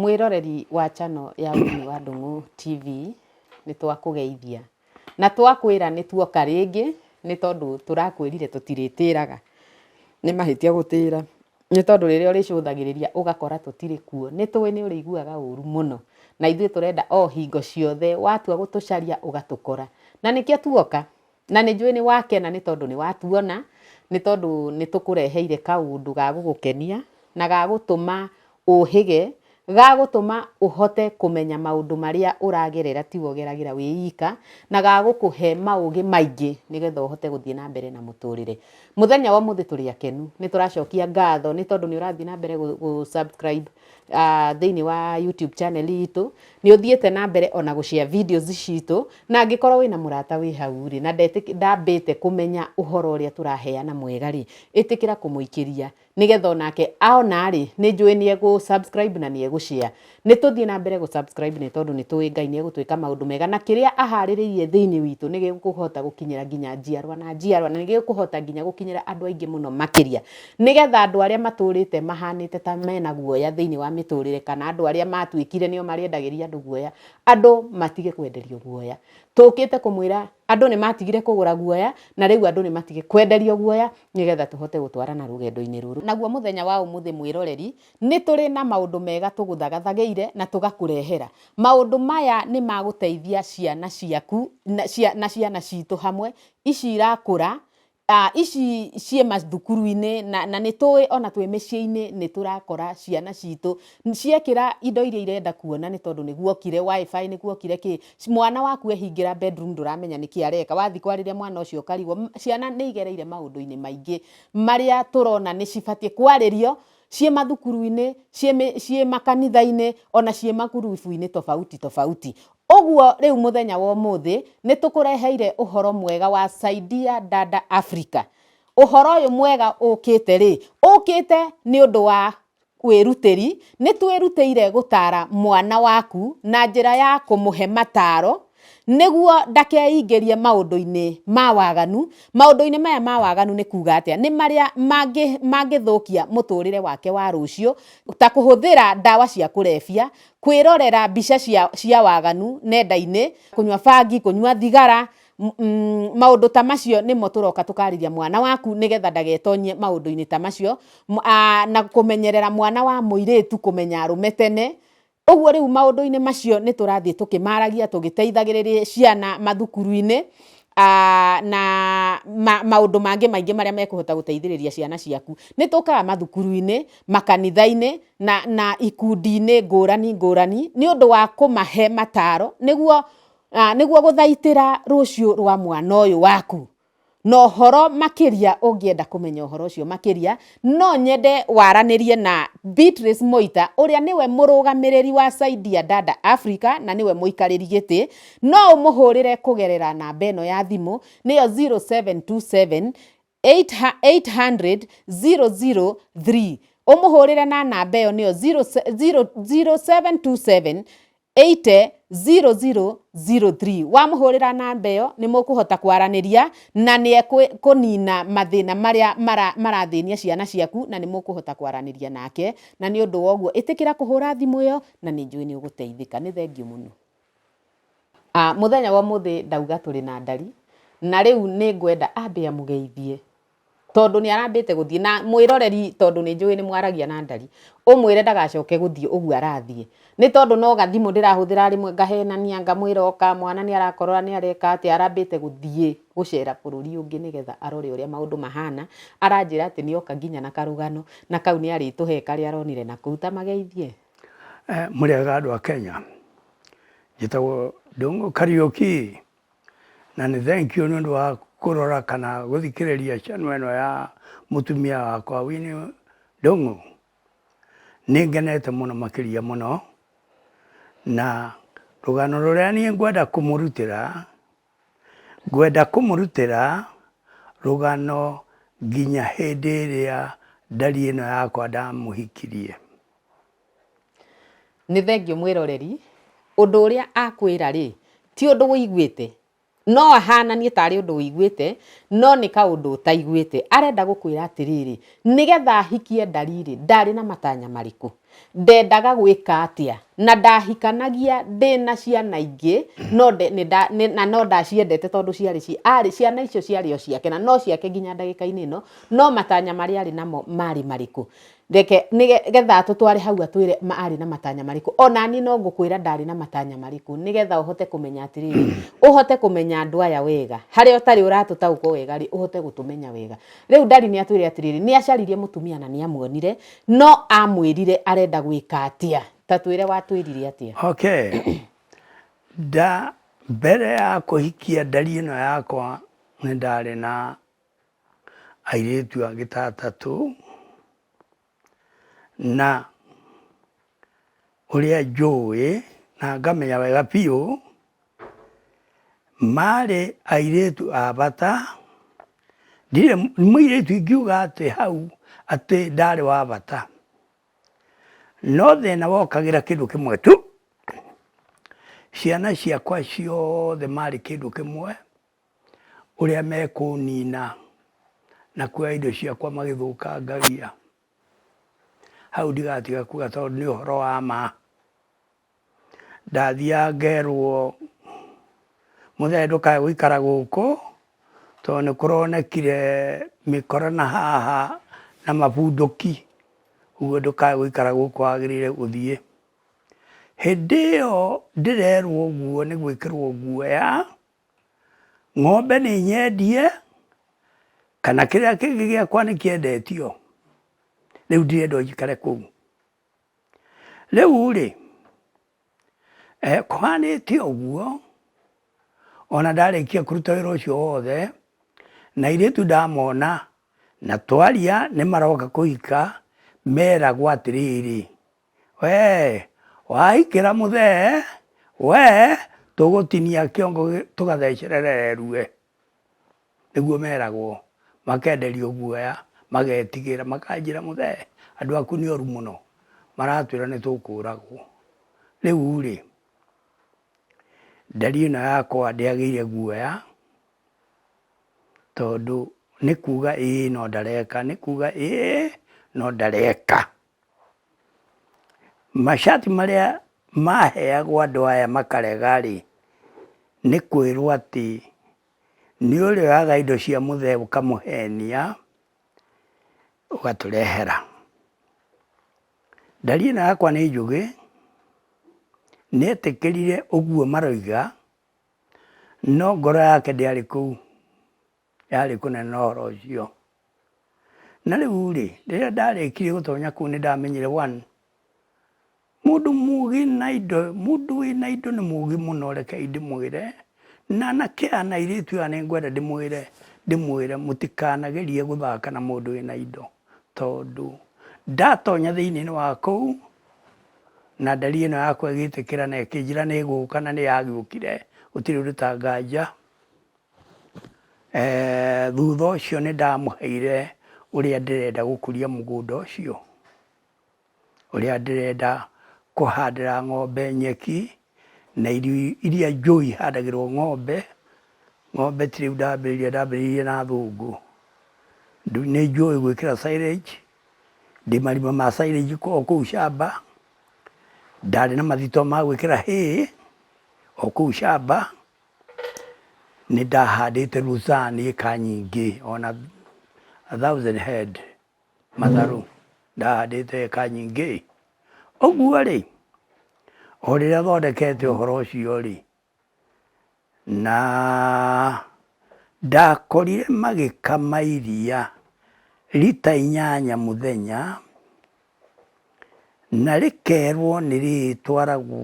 Mwĩroreri wa channel ya Winnie wa Ndũng'ũ TV, nĩ twakũgeithia na twakwĩra nĩ tuoka rĩngĩ nĩ tondũ tũrakwĩrire tũtirĩtĩraga. Nĩ mahĩtia gũtĩra nĩ tondũ rĩrĩa ũrĩcũthagĩrĩria ũgakora tũtirĩ kuo. Nĩ tũĩ nĩ ũrĩiguaga ũru mũno na ithuĩ tũrenda o hingo ciothe watua gũtũcaria ũgatũkora. Na nĩkĩo tuoka Na nĩ njũĩ nĩ wakena nĩ tondũ nĩ watuona, nĩ tondũ nĩ tũkũreheire kaũndũ ga gũgũkenia na ga gũtũma ũhĩge, ga gũtũma ũhote kũmenya maũndũ marĩa ũragerera tiwe ũgeragĩra wĩ ika, na ga gũkũhe maũgĩ maingĩ nĩ getha ũhote gũthiĩ na mbere na mũtũrĩre. Mũthenya wa ũmũthĩ tũrĩ akenu, nĩ tũracokia ngatho nĩ tondũ nĩ ũrathiĩ na mbere gũ subscribe ah, thĩinĩ wa YouTube channel itũ nĩ ũthiĩte na mbere ona gũshare videos citũ na angĩkorwo wĩna mũrata wĩ hau rĩ na ndetĩk- ndambĩte kũmenya ũhoro ũrĩa tũraheana mwega rĩ ĩtĩkĩra kũmũikĩria nĩgetha onake aona rĩ nĩ njũĩ nĩ egũ subscribe na nĩ egũshare nĩ tũthiĩ na mbere gũ subscribe nĩ tondũ nĩ tũĩ Ngai nĩ egũtwĩka maũndũ mega na kĩrĩa aharĩrĩirie thĩinĩ witũ nĩ gĩkũhota gũkinyĩra nginya njiarwa na njiarwa na nĩ gĩkũhota nginya gũkinyĩra andũ aingĩ mũno makĩria Nĩ getha andũ arĩa matũũrĩte mahaanĩte ta me na guoya thĩinĩ wa mĩtũũrĩre kana andũ arĩa matuĩkire nĩo marĩendagĩria andũ guoya, andũ matige kwenderio guoya. Tũũkĩte kũmwĩra andũ nĩ matigire kũgũra guoya na rĩu andũ nĩ matige kwenderio guoya nĩ getha tũhote gũtwarana rũgendo-inĩ rũrũ. Naguo mũthenya wa ũmũthĩ mwĩroreri, nĩ tũrĩ na maũndũ mega tũgũthagathageire na tũgakũrehera. Maũndũ maya nĩ ma gũteithia ciana ciaku na ciana citũ hamwe, ici irakũra Ah, ici ciĩ mathukuru-inĩ na, na nĩ tũĩ ona twĩ mĩciĩ-inĩ nĩ tũrakora ciana citũ ciekĩra indo iria irenda kuona nĩ tondũ nĩ guokire WiFi, nĩ guokire kĩ. Mwana waku ehingĩra bedroom ndũramenya nĩkĩ areka, wathiĩ kwarĩria mwana ũcio ũkarigwo. Ciana nĩ igereire maũndũ-inĩ maingĩ marĩa tũrona nĩ cibatiĩ kwarĩrio ciĩ mathukuru-inĩ, ciĩ mĩ, ciĩ makanitha-inĩ, ona ciĩ ma group -inĩ tofauti tofauti. Ũguo rĩu mũthenya wa ũmũthĩ nĩ tũkũreheire ũhoro mwega wa Saidia Dada Africa. Ũhoro ũyũ mwega ũkĩte rĩ, ũkĩte nĩ ũndũ wa wĩrutĩri. Nĩ twĩrutĩire gũtaara mwana waku na njĩra ya kũmũhe mataaro nĩguo ndakeingĩrie maũndũ-inĩ ma waganu. Maũndũ-inĩ maya ma waganu nĩ kuuga atĩa? Nĩ marĩa mangĩthũkia mũtũrĩre wake wa rũciũ, ta kũhũthĩra ndawa cia kũrebia, kwĩrorera mbica cia, cia waganu nenda-inĩ, kũnyua bangi, kũnyua thigara, maũndũ ta macio nĩmo tũroka tũkarĩria mwana waku nĩgetha ndagetonyie maũndũ-inĩ ta macio, na kũmenyerera mwana wa mũirĩtu kũmenya arũme tene, ũguo rĩu maũndũ-inĩ macio nĩ tũrathiĩ tũkĩmaragia tũgĩteithagĩrĩria ciana mathukuru-inĩ, na maũndũ mangĩ maingĩ marĩa mekũhota gũteithĩrĩria ciana ciaku. Nĩ tũkaga mathukuru-inĩ, makanitha-inĩ, na, na ikundi-inĩ ngũrani ngũrani nĩ ũndũ wa kũmahe mataro nĩguo ah, nĩguo gũthaitĩra rũciũ rwa mwana ũyũ waku na ũhoro makĩria ũngĩenda kũmenya ũhoro ũcio makĩria no nyende waranĩrie na Beatrice Moita ũrĩa nĩwe mũrũgamĩrĩri wa Saidia Dada Africa na nĩwe mũikarĩri gĩtĩ no ũmũhũrĩre kũgerera namba ĩno ya thimũ nĩyo 0727 800 003 ũmũhũrĩre na namba ĩyo nĩyo 0727 80 0003 wamũhũrĩra namba ĩyo nĩ mũkũhota kwaranĩria na nĩ ekũnina mathĩna marĩa marathĩnia ciana ciaku na nĩ mũkũhota kwaranĩria nake na nĩ ũndũ woguo ĩtĩkĩra kũhũra thimũ ĩyo na nĩ njũĩ nĩ ũgũteithĩka nĩ thengiũ mũno. Mũthenya wa ũmũthĩ ndauga tũrĩ na ndari, na rĩu nĩ ngwenda ambe amũgeithie, tondũ nĩ arambĩte gũthiĩ, na mwĩroreri tondũ nĩ njũĩ nĩ mwaragia na ndari, ũmwĩre ndagacoke gũthiĩ ũguo arathiĩ, nĩ tondũ no gathimũ ndĩrahũthĩra rĩmwe ngahenania, ngamwĩra oka, mwana nĩ arakorora nĩ areka atĩa, arambĩte gũthiĩ gũcera bũrũri ũngĩ nĩgetha arore ũrĩa maũndũ mahana, aranjĩra atĩ nĩ oka nginya na karũgano, na kau nĩ arĩtũhe karĩa aronire nakũu, ta mageithie. Mũrĩega andũ a Kenya? Njĩtagwo Ndũng'ũ Kariũki, na nĩ thengiũ nĩ ũndũ wa kũrora kana gũthikĩrĩria channel ĩno ya mũtumia wakwa Winnie Ndũng'ũ. Nĩ ngenete mũno makĩria mũno, na rũgano rũrĩa niĩ ngwenda kũmũrutĩra Ngwenda kũmũrutĩra rũgano nginya hĩndĩ ĩrĩa ndari ĩno yakwa ndamũhikirie. Nĩ thengiũ mwĩroreri, ũndũ ũrĩa akwĩra rĩ, ti ũndũ ũiguĩte. No ahananie tarĩ ũndũ ũiguĩte, no nĩ kaũndũ ũtaiguĩte. Arenda gũkwĩra atĩrĩrĩ, nĩgetha hikie ndari rĩ, ndarĩ na matanya marĩkũ? ndendaga gwĩka atĩa, na ndahikanagia ndĩ na ciana ingĩ, no nde, nĩ nda, nĩ, na no ndaciendete tondũ ciarĩ ci, arĩ, ciana icio ciarĩ o ciake, na no ciake nginya ndagĩka-inĩ ĩno, no matanya marĩa arĩ namo marĩ marĩkũ? Reke, nĩ ge- getha atũtware hau atwĩre ma- arĩ na matanya marĩkũ. O na niĩ no ngũkwĩra ndarĩ na matanya marĩkũ, nĩ getha ũhote kũmenya atĩrĩrĩ, ũhote kũmenya andũ aya wega, harĩa ũtarĩ ũratũtaũkwo wega-rĩ, ũhote gũtũmenya wega. Rĩu Ndari nĩ atwĩre atĩrĩrĩ, nĩ acaririe mũtumia na nĩ amuonire, No amwĩrire arenda gwĩka atĩa? Ta twĩre watwĩrire atĩa? Okay. Nda mbere ya kũhikia ndari ĩno yakwa nĩ ndarĩ na airĩtu angĩ ta atatũ na ũrĩa njũĩ na ngamenya wega biũ, marĩ airĩtu a bata, ndirĩ mũirĩtu ingiuga atĩ hau atĩ ndarĩ wa bata. No thĩna wokagĩra kĩndũ kĩmwe tu, ciana ciakwa ciothe marĩ kĩndũ kĩmwe, ũrĩa mekũnina na kuoya indo ciakwa magĩthũkangagia. Hau ndigatiga kuga tondũ nĩ ũhoro wa ma. Ndathiaga ngerwo mũthee ndũkae gũikara gũkũ tondũ nĩ kũronekire mĩkora na haha na mabundũki, ũguo ndũkae gũikara gũkũ wagĩrĩire gũthiĩ. Hĩndĩ ĩyo ndĩrerwo ũguo nĩ gwĩkĩrwo guoya. Ng'ombe nĩ nyendie kana kĩrĩa kĩngĩ gĩakwa nĩ kĩendetio, rĩu ndirenda njikare kũu. Rĩu-rĩ, kũhanĩte ũguo, ona ndarĩkia kũruta wĩra ũcio wothe, na airĩtu ndamona na twaria nĩ maroka kũhika, meragwo atĩrĩrĩ. wee waikĩra mũthee wee tũgũtinia kĩongo tũgathecerere erue nĩguo meragwo makenderio guoya magetigĩra makanjĩra mũthee andũ aku nĩ oru mũno maratwĩra nĩ tũkũragwo rĩu rĩ nderi ĩno yakwa ndĩagĩire guoya tondũ nĩ kuga ĩĩ no ndareka nĩ kuga ĩĩ no ndareka. Macati marĩa maheagwo andũ aya makarega rĩ, nĩ kwĩrwo atĩ nĩ ũrĩa ũraga indo cia mũthee ũkamũhenia ũgatũrehera. Ndari ĩno yakwa nĩ njũgĩ, nĩ etĩkĩrire ũguo maroiga no ngoro yake ndĩarĩ kũu. yarĩ kũnene ũhoro ũcio. Na rĩu rĩ, rĩrĩa ndarĩkirie gũtonya kũu nĩ ndamenyire one mundu mugi na indo mundu wĩ na indo nĩ mugi mũno reke ndĩmwĩre na anake aya na airĩtu aya nĩ ngwenda ndĩmwĩre ndĩmwĩre mũtikanagerie gũthaka na mũndũ wĩ na indo tondũ ndatonya thĩinĩ wa kũu na ndari ĩno yakwa ĩgĩtĩkĩra na ĩkĩnjĩra nĩ ĩgũka na nĩ yagĩũkire gũtirĩ ũndũ ta nganja Thutha ũcio nĩ ndamũheire ũrĩa ndĩrenda gũkũria mũgũnda ũcio, ũrĩa ndĩrenda kũhandĩra ng'ombe nyeki, na irio iria njũi ihandagĩrwo ng'ombe, ng'ombe ti rĩu ndambĩrĩirie, ndambĩrĩirie na thũngũ. Nĩ njũĩ gwĩkĩra silage, ndĩ marima ma silage o kũu camba, ndarĩ na mathito ma gwĩkĩra hay o kũu camba. Nĩ ndahandĩte Lucerne ĩka nyingĩ ona a thousand head matharũ ndahandĩte ĩka nyingĩ. Ũguo rĩ, o rĩrĩa thondekete ũhoro ũcio rĩ, na ndakorire magĩkama iria rita inyanya mũthenya, na rĩkerwo nĩ rĩrĩtwaragwo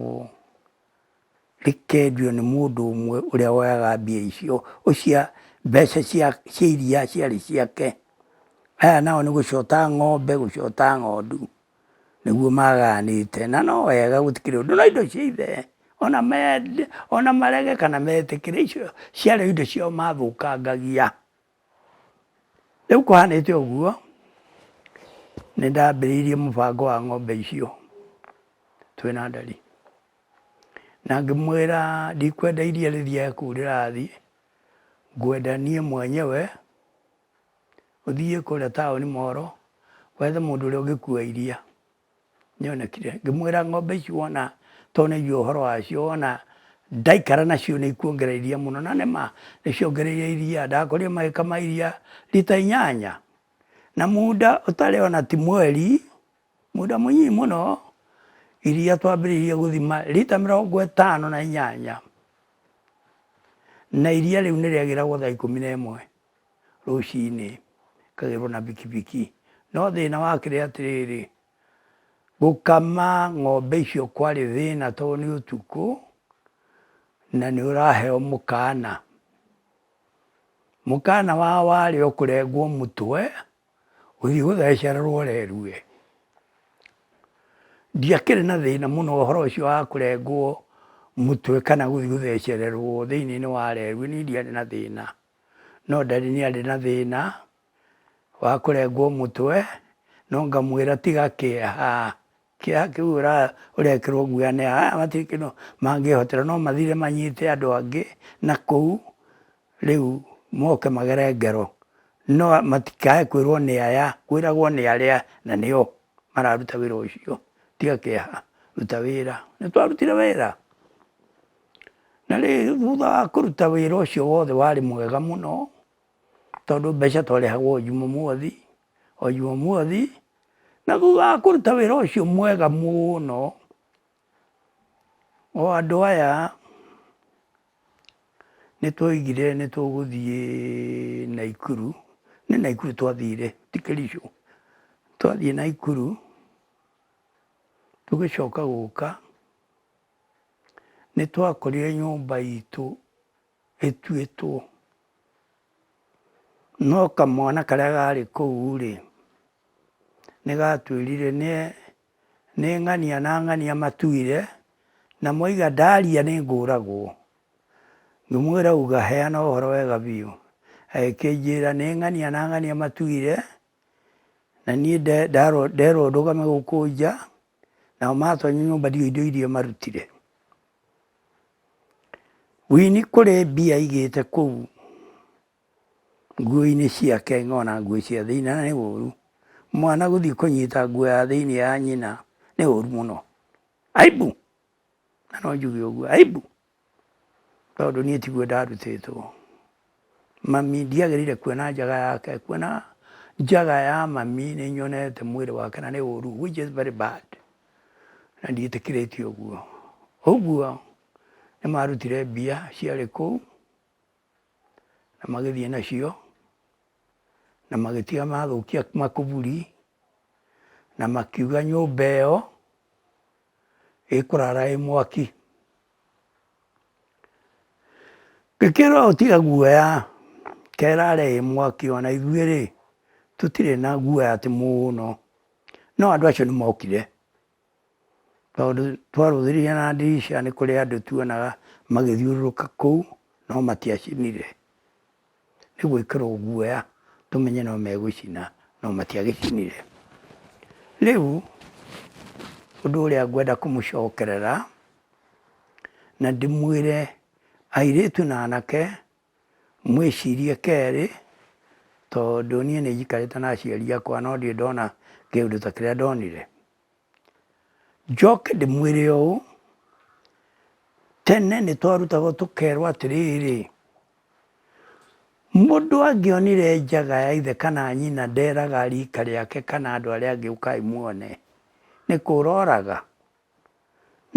rĩkendio nĩ mũndũ ũmwe ũrĩa woyaga mbia icio, ũcia mbeca cia cia iria ciarĩ ciake. Aya nao nĩ gũcota ng'ombe gũcota ng'ondu, nĩguo maganĩte. Na no wega gũtikĩrĩ ũndũ no indo cia ithe, ona mende ona marege kana metĩkĩre icio ciarĩ o indo ciao mathũkangagia. Rĩu kũhanĩte ũguo, nĩ ndambĩrĩirie mũbango wa ng'ombe icio twĩ na ndari. Na ngĩmwĩra ndikwenda iria rĩthiage kũu rĩrathiĩ, ngwenda niĩ mwenyewe ũthiĩ kũrĩa taũni Moro, wethe mũndũ ũrĩa ũngĩkua iria. Nĩonekire. Ngĩmwĩra ng'ombe ici wona tondũ nĩnjũĩ ũhoro wacio wona ndaikara nacio nĩikuongerera iria mũno. Na nĩ ma, nĩciongereire iria. Ndakorire magĩkama iria rita inyanya. Na muda ũtarĩ ona ti mweri, muda mũnyinyi mũno, iria twambĩrĩirie gũthima rita mĩrongo ĩtano na inyanya. Na iria rĩu nĩrĩagĩragwo thaa ikũmi na ĩmwe. rũcinĩ ĩkagĩrwo na bikibiki. No thĩna wakĩrĩ atĩrĩrĩ, gũkama ng'ombe icio kwarĩ thĩna tondũ nĩ ũtukũ na nĩ ũraheo mũkana. Mũkana wao warĩ o kũrengwo mũtwe gũthiĩ gũthecererwo rerue. Ndiakĩrĩ na thĩna mũno ũhoro ũcio wa kũrengwo mũtwe kana gũthiĩ gũthecererwo thĩiniĩ wa rerue niĩ ndiarĩ na thĩna. no daddy nĩ arĩ na thĩna wa kũrengwo mũtwe no ngamwĩra tiga kĩeha, kĩeha kĩu ũrekĩrwo guoya nĩ aya matirĩ kĩndũ mangĩhotera no mathire manyite andũ angĩ na kũu rĩu moke magere ngero no matikae kwĩrwo nĩ aya kwĩragwo nĩ arĩa na nĩo mararuta wĩra ũcio, tiga kĩeha ruta wĩra, nĩ twarutire wĩra. Na rĩrĩ, thutha wa kũruta wĩra ũcio wothe warĩ mwega mũno, tondũ mbeca twarĩhagwo o Jumamothi, o Jumamothi, na thutha wa kũruta wĩra ũcio mwega mũno, o andũ aya nĩ twoigire nĩ tũgũthiĩ Naikuru, nĩ Naikuru twathire ti Kericho, twathiĩ Naikuru tũgĩcoka gũka. Nĩ twakorire nyũmba itũ ĩtuĩtwo. No kamwana karĩa karĩ kũu rĩ, nĩ gatwĩrire nĩ ng'ania na ng'ania matuire na moiga ndaria nĩ ngũragwo. Ngĩmwĩra uga heana ũhoro wega biũ. Akĩnjĩra nĩ ng'ania na ng'ania matuire na niĩ nderwo ndũgame gũkũ nja. nao matonya nyũmba ndiũĩ indo iria marutire. Wini kũrĩ mbia aigĩte kũu nguo-inĩ ciake ng'ona nguo cia thĩinĩ na nĩ ũru. Mwana gũthiĩ kũnyita nguo ya thĩinĩ ya nyina nĩ ũru mũno. Aibu! Na no njuge ũguo, aibu! Tondũ niĩ tiguo ndarutĩtwo. Mami ndiagĩrĩire kuona njaga yake, kuona njaga ya mami nĩ nyonete mwĩrĩ wake na nĩ ũru which is very bad na ndiĩtĩkĩrĩtie ũguo. Ũguo nĩ marutire mbia ciarĩ kũu na magĩthiĩ nacio na magĩtiga mathũkia makũburi na makiuga nyũmba ĩyo ĩkũrara ĩ mwaki. Ngĩkĩrwo tiga guoya kerare ĩ mwaki ona ithuĩ rĩ tũtirĩ na guoya atĩ mũno. No andũ acio nĩ mokire tondũ twarũthĩrĩria na ndirica nĩ kũrĩ andũ tuonaga magĩthiũrũrũka kũu no matiacinire. nĩ gwĩkĩrwo guoya tũmenye no megũcina no matiagĩcinire. Rĩu ũndũ ũrĩa ngwenda kũmũcokerera na ndĩmwĩre airĩtu na anake mwĩcirie kerĩ tondũ niĩ nĩ njikarĩte na aciari akwa no ndirĩ ndona kĩũndũ ta kĩrĩa ndonire. Njoke ndĩmwĩre ũũ, tene nĩ twarutagwo tũkerwo atĩrĩrĩ, mũndũ angĩonire njaga ya ithe kana nyina nderaga rika rĩake kana andũ arĩa angĩ ũkai muone, nĩ kũra oraga.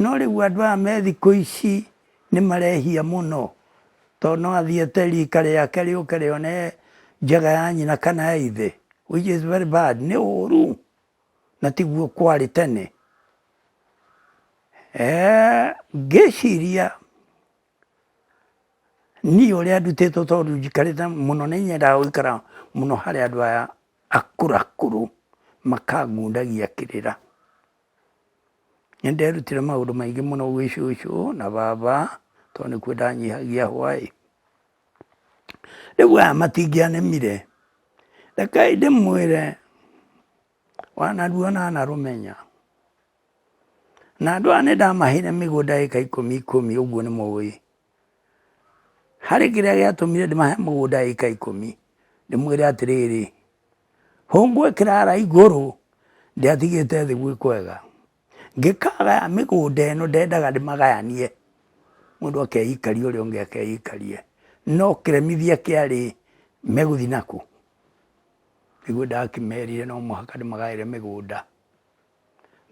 No rĩu andũ aya me thikũ ici nĩ marehia mũno, to no athiĩ ete rika rĩake rĩũke rĩone njaga ya nyina kana ya ithe, which is very bad, nĩ ũru. na tiguo kwarĩ tene. Ngĩciria niĩ ũrĩa ndutĩtwo tondũ njikarĩte mũno nĩ nyendaga gũikara mũno harĩ andũ aya akũrũ akũrũ makangundagia kĩrĩra. Nĩ nderutire maũndũ maingĩ mũno gwĩ cũcũ na baba tondũ nĩkuo ndanyihagia hwa ĩ. Rĩu aya matingĩanemire, rekei ndĩmwĩre wa narua na na rũmenya. Na andũ aya nĩ ndamaheire mĩgũnda ĩka ikũmi ikũmi ũguo nĩ mũĩ. Harĩ kĩrĩa gĩatũmire ndĩmahe mũgũnda ĩka ikũmi, ndĩmwĩre atĩrĩrĩ, hũngũ ĩkĩrara igũrũ ndĩatigĩte thĩ gwĩ kwega. Ngĩkagaya mĩgũnda ĩno ndendaga ndĩmagayanie, mũndũ akeikaria ũrĩa ũngĩ akeikaria. No kĩremithia kĩarĩ megũthiĩ nakũ? Nĩguo ndakĩmerire no mũhaka ndĩmagaĩre mĩgũnda.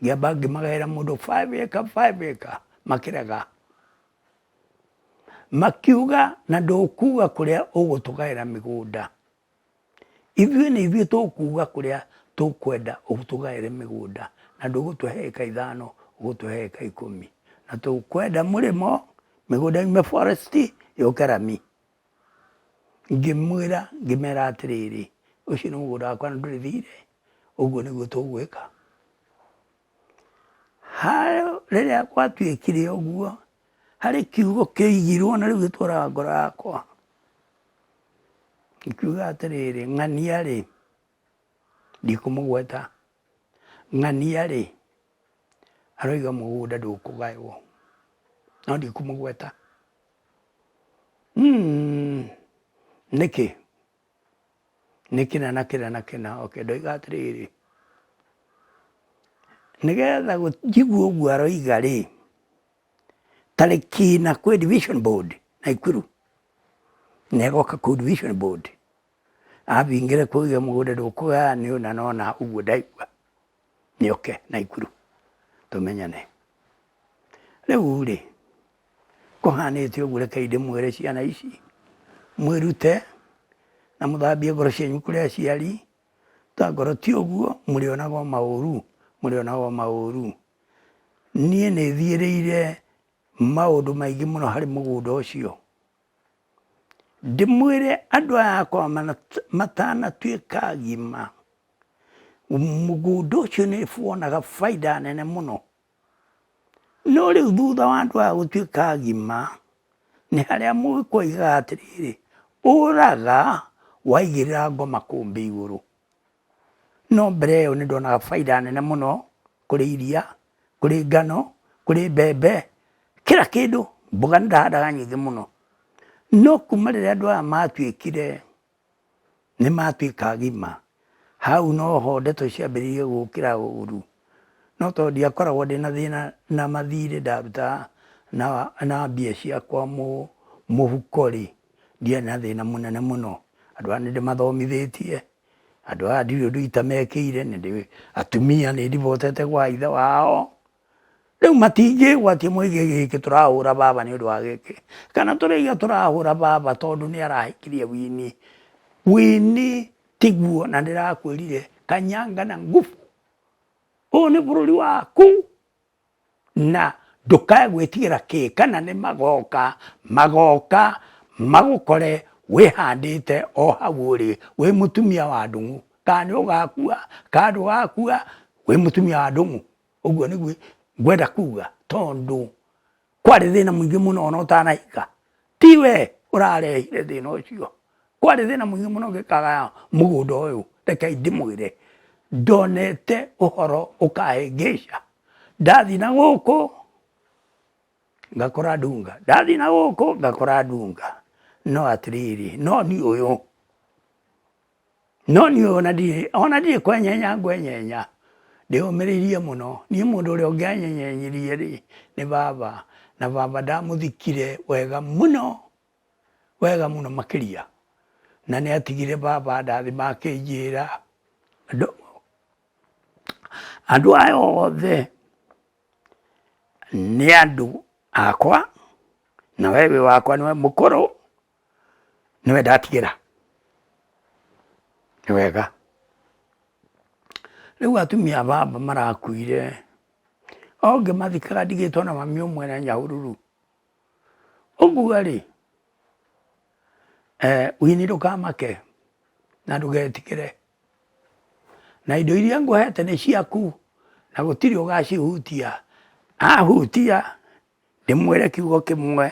Ngĩamba ngĩmagaĩra mũndũ five acre five acre makĩrega. Makiuga na ndũkuga kũrĩa ũgũtũgaĩra mĩgũnda. Ithuĩ nĩ ithuĩ tũkuuga kũrĩa tũkwenda ũtũgaĩre mĩgũnda na ndũgũtũhe ĩka ithano ũgũtũhe ĩka ikũmi. Na tũkwenda mũrĩmo mĩgũnda yume forest yũke rami. Ngĩmwĩra ngĩmera atĩrĩrĩ, ũcio nĩ mũgũnda wakwa na ndũrĩ thiirĩ, ũguo nĩguo tũgwĩka. Rĩrĩa gwatuĩkire ũguo, harĩ kiugo kĩoigirwo na rĩu gĩtũraga ngoro yakwa. Ngĩkiuga atĩrĩrĩ, ng'ania rĩ, ndikũmũgweta, ng'ania rĩ, aroiga mũgũnda ndũkũgaywo, no ndikũmũgweta. Hmm, nĩkĩ? Nĩ kĩna na kĩna na kĩna, oke ndoiga atĩrĩrĩ, nĩgetha njigue ũguo aroiga rĩ, tarĩki na kwĩ division board Naikuru. na ĩgoka kũ division board abingĩre kũu iga mũgũnda ndũkũgaya nĩ ũna na ũna ũguo ndaigua nĩ oke naikuru tũmenyane rĩu rĩ kũhanĩte ũguo reke ndĩmwĩre ciana ici mwĩrute na mũthambie ngoro cianyu kũrĩ aciari ta ngoro ti ũguo mũrĩonaga maũru mũrĩonaga maũru niĩ nĩthiĩrĩire maũndũ maingĩ mũno harĩ mũgũnda ũcio, ndĩmwĩre andũ aya akwa matanatuĩka agima, mũgũnda ũcio nĩ wonaga bainda nene mũno. No rĩu thutha wa andũ aya gũtuĩka agima, nĩ harĩa mũhĩkwa augaga atĩrĩrĩ, ũraga waigĩrĩra ngo makũmbĩ igũrũ. No mbere ĩyo nĩ ndonaga bainda nene mũno kũrĩ iria, kũrĩ ngano, kũrĩ mbembe, kira kĩndũ, mboga nĩ ndahandaga nyingĩ mũno. No kuma rĩrĩa andũ aya matuĩkire nĩ matuĩka agima, hau no ho ndeto ciambĩrĩirie gũkĩra ũru. No tondũ ndiakoragwo ndĩna thĩna na mathirĩ ndaruta na mbia ciakwa mũhuko rĩ, ndiarĩ na thĩna mũnene mũno. Andũ aya nĩ ndĩmathomithĩtie. Andũ aya ndiũĩ ũndũ itamekĩire, atumia nĩ ndibotete gwa ithe wao, rĩu matingĩgwatia moige gĩkĩ tũrahũra baba nĩ ũndũ wa gĩkĩ, kana tũraiga tũrahũra baba tondũ nĩ arahikirie Winnie. Winnie tiguo na ndĩrakwĩrire Kanyanga na ngubu, ũyũ nĩ bũrũri waku. Na ndũkae gwĩtigĩra kĩ, kana nĩ magooka, magooka magũkore wĩhandĩte o hau ũrĩ, wĩ mũtumia wa ndũng'ũ. Kana nĩ ũgakua, kana ndũgakua, wĩ mũtumia wa ndũng'ũ. Ũguo nĩguo ngwenda kuuga, tondũ kwarĩ thĩna mũingĩ mũno ona ũtanahika ti we ũrarehire thĩna ũcio kwarĩ thĩna mũingĩ mũno ngĩkagaya mũgũnda ũyũ reke ndĩmwĩre ndonete ũhoro ũkahĩngĩca ndathi na gũkũ ngakora ndunga ndathi na gũkũ ngakora ndunga no atĩrĩrĩ no niĩ ũyũ No niĩ ona ndirĩ, ona ndirĩ kwenyenya ngwenyenya, ndĩyũmĩrĩirie mũno. Niĩ mũndũ ũrĩa ũngĩanyenyenyirie rĩ, nĩ baba, na baba ndamũthikire wega mũno, wega mũno makĩria. Na nĩ atigire baba andathima akĩnjĩra, andũ, andũ aya othe nĩ andũ akwa, na we wĩ wakwa nĩwe mũkũrũ. nĩwe ndatigĩra nĩ wega. Rĩu atumia a baba marakuire o ngĩmathikaga ndigĩtwo na mami ũmwe na nyahururu ũguo rĩ eh, wini ndũkamake na ndũgetigĩre na indo iria ngũhete nĩ ciaku na gũtirĩ ũgacihutia ahutia ndĩmwĩre kiugo kĩmwe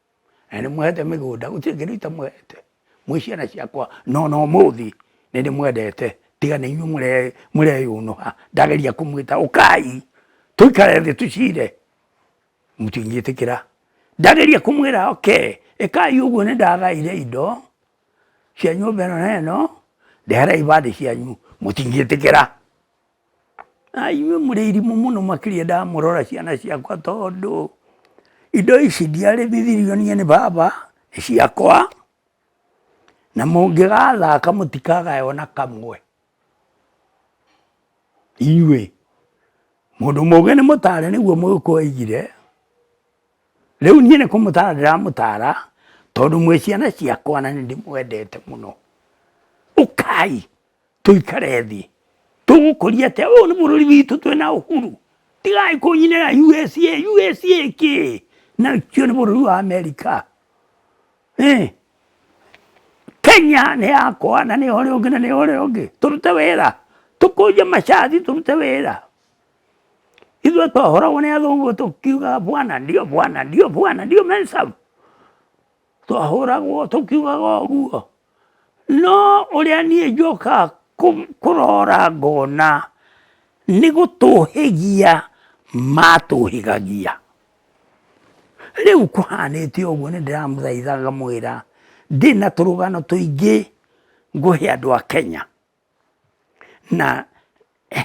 na nĩ mwendete mĩgũnda gũtirĩ kĩndũ itamwendete mwĩ ciana ciakwa no no mũthĩ nĩ ndĩmwendete tiga nĩ inyuĩ mũreyũnũha ndageria kũmwĩta ũkai tũikare thĩ tũcire mũtingĩtĩkĩra ndageria kũmwĩra oke ĩkai ũguo nĩ ndagaire indo cia nyũmba ĩno na ĩno ndehera ibandĩ cianyu mũtingĩtĩkĩra Inyuĩ mũrĩ arimũ mũno makĩria ndamũrora ciana ciakwa tondũ indo ici ndiarĩithirio niĩ nĩ baba, nĩ ciakwa, na mũngĩgathaka mũtikagaya ona kamwe inyuĩ. Mũndũ mũgĩ nĩ mũtare nĩguo mũgĩkũyũ augire, rĩu niĩ nĩ kũmũtara ndĩramũtara tondũ mwĩ ciana ciakwa na nĩ ndĩmwendete mũno. Ũkai! tũikare thĩ tũgũkũria atĩa ũyũ nĩ bũrũri witũ twĩna ũhuru tigai kũnyinĩra USA USA kĩ na kĩo nĩ bũrũri wa Amerika eh. Kenya nĩ yakwa na nĩ ũrĩa ũngĩ na nĩ ũrĩa ũngĩ tũrute wĩra tũkũnje macati tũrute wĩra ithuĩ twahoragwo nĩ athũngũ tũkiugaga bwana ndio bwana ndio bwana ndio mensabu Twahũragwo tũkiugaga ũguo, no ũrĩa niĩ njokaga kũrora ngona nĩ gũtũhĩgia matũhĩgagia. Rĩu kũhanĩte ũguo nĩ ndĩramũthaitha ngamwĩra ndĩna tũrũgano tũingĩ ngũhe andũ a Kenya. Na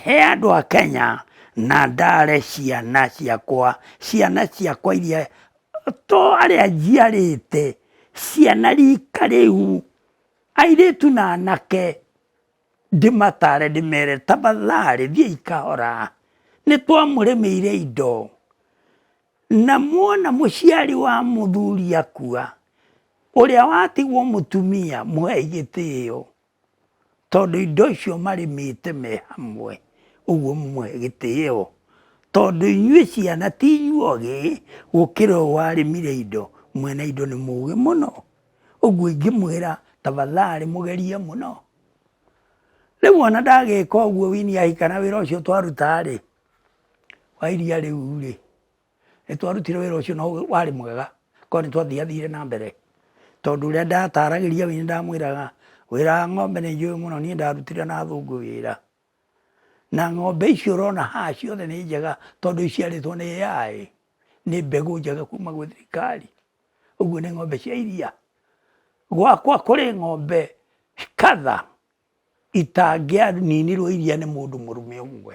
he andũ a Kenya na ndare ciana ciakwa, ciana ciakwa iria, to arĩa njiarĩte, ciana rika rĩu, airĩtu na anake, ndĩmatare ndĩmere tafadhalĩ thiĩi kahora, nĩ twamũrĩmĩire indo, na mwona mũciari wa mũthuri akua, ũrĩa watigwo mũtumia mũhei gĩtĩo. tondũ indo icio marĩmĩte me hamwe, ũguo mũmũhe gĩtĩo. Tondũ inyuĩ ciana ti inyuĩ ogĩ gũkĩra ũrĩa warĩmire indo, mwene indo nĩ mũgĩ mũno. Ũguo ingĩmwĩra tafadhalĩ mũgerie mũno. Rĩu ona ndagĩka ũguo Winnie ahika na wĩra ũcio twaruta rĩ, wa iria rĩu rĩ. Nĩtwarutire wĩra ũcio na warĩ mwega korwo nĩtwathiathire na mbere tondũ ũrĩa ndataragĩria we nĩndamwĩraga wĩra wa ng'ombe nĩnjũĩ mũno niĩ ndarutire na athũngũ wĩra. Na ng'ombe ici ũrona haha ciothe nĩ njega tondũ iciarĩtwo nĩ AI nĩ mbegũ njega kuma gwĩ thirikari. Ũguo nĩ ng'ombe cia iria. Gwakwa kũrĩ ng'ombe kadhaa itangĩaninirwo iria nĩ mũndũ mũrũme ũmwe.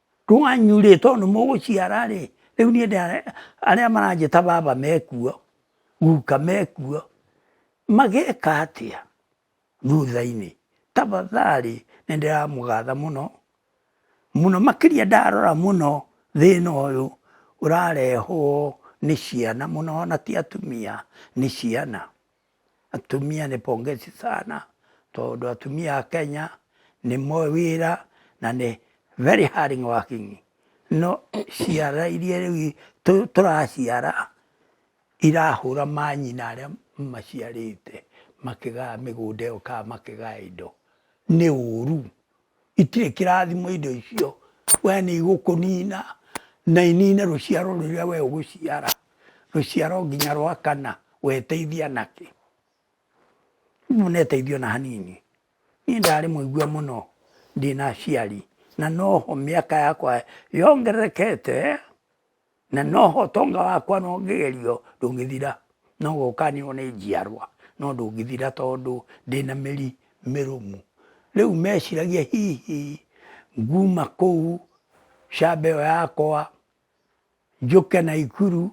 rwanyu rĩ tondũ nĩ mũgũciara rĩ, rĩu niĩ arĩa maranjĩta baba mekuo, guka mekuo, mageka atĩa thutha-inĩ? Tafadhalĩ nĩ ndĩramũgatha mũno, mũno makĩria ndarora mũno thĩna ũyũ ũrarehwo nĩ ciana mũno ona ti atumia, nĩ ciana. Atumia nĩ pongezi sana tondũ atumia a Kenya nĩ moĩ wĩra na nĩ very hard working. No ciana iria rĩu tũraciara irahũra manyina arĩa maciarĩte makĩgayaga mĩgũnda ĩyo kana makĩgaya indo, nĩ ũru. itirĩ kĩrathimo indo icio, we nĩ igũkũnina na inine rũciaro rũrĩa we ũgũciara, rũciaro nginya rwa kana weteithia nakĩ? Mũneteithia ona hanini. Niĩ ndarĩ mũigua mũno ndĩna aciari na noho mĩaka yakwa yongererekete na noho ũtonga wakwa no ngĩgerio ndũngĩthira, no gũkanĩrwo nĩ njiarwa no ndũngĩthira tondũ ndĩna mĩri mĩrũmu. Rĩu meciragia hihi nguma kũu camba ĩyo yakwa njũke Naikuru